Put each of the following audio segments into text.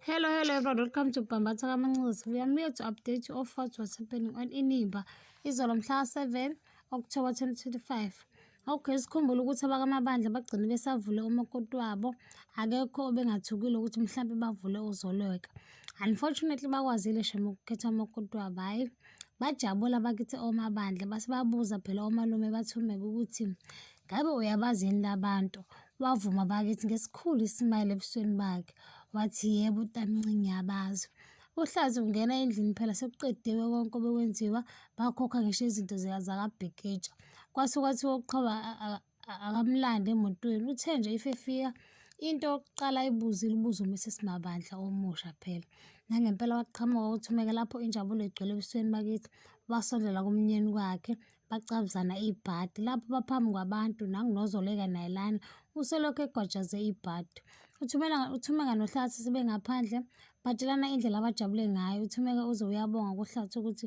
Hello, hello everyone. Welcome to Bambatha Kamanxuza. We are here to update you of what was happening on Inimba. Izolo mhla 7 October 2025. Okay, sikhumbule ukuthi abakamabandla bagcine besavule umakoti wabo. Akekho obengathukile ukuthi mhlampe bavule uzolweka. Unfortunately bakwazile shem ukukhetha umakoti wabo. Hayi, bajabula bakithi omabandla. Base babuza phela omalume bathumeke ukuthi Ngabe uyabazi yini labantu? Wavuma bakithi ngesikhulu isimayile ebusweni bakhe. Wathi, yebo, tamncinci ngiyabazi. Uhlazi ungena endlini phela sekuqediwe konke obekwenziwa, bakhokha ngisho izinto zakabhikitsha. Kwase kwathiwa uqhoba akamlandi emotweni, uthe nje if efika into yokuqala ayibuze ilibuze uMrs Mabandla omusha phela. Nangempela waqhamuka uthumeke lapho injabulo igcwele ebusweni bakithi, wasondela kumnyeni wakhe, bacabuzana ibhadi lapho baphambi kwabantu nangunozoleka naye lana uselokhu egwajaze ibhadi uthumela uthumeka nohlathi sebengaphandle batshelana indlela abajabule ngayo uthumeka uze uyabonga kuhlathi ukuthi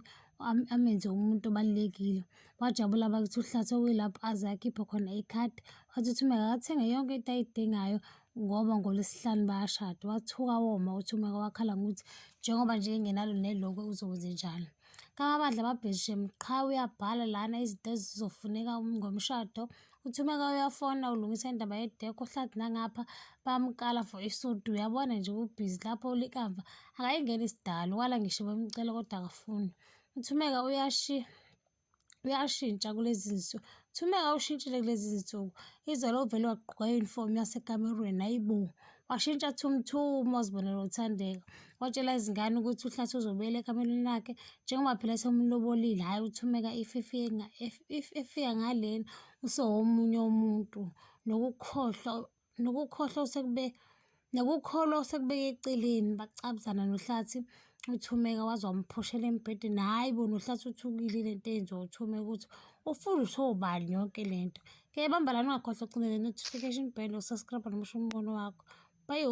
amenze umuntu obalulekile wajabula bakithi uhlathi okuyilapho aze akhiphe khona ikhadi wathi uthumeka akathenge yonke into ayidingayo ngoba ngolwesihlanu bayashada wathuka woma uthumeka wakhala ngokuthi njengoba nje engenalo nelokwe uzokwenze njalo Kama bandla babhejishe qha uyabhala lana izinto ezizofuneka ngomshado. Uthi uma uyafona ulungisa indaba yedekho hlathi nangapha bamkala for isudu uyabona nje ubhizi lapho likamva akayingeni isidalo wala ngisho bemcela kodwa akafuni. Uthumeka uyashiya uyashintsha kulezi zinsuku kuthiwa uma awushintshile kulezi zinsuku izolo uvele wagqoka i-uniform yasekamerweni hayi bo washintsha thumthuma wazibonela uthandeka watshela izingane ukuthi uhlathi uzobuyela ekamerweni lakhe njengoba phela semlobolile hhayi uthumeka if efika ngalena usewomunye umuntu nokukhohlwa nokukhohlwa osekube nokukholwa osekubeke eceleni bacabuzana nohlathi uthumeka waze wamphushela embhedeni hhayi bo nohlathi uthukile le nto eyenziwa uthumeka ukuthi ufundiswe ubani yonke le nto ke bamba lana ungakhohlwa ucindele notification bell usascribe nomusho umbono wakho bayo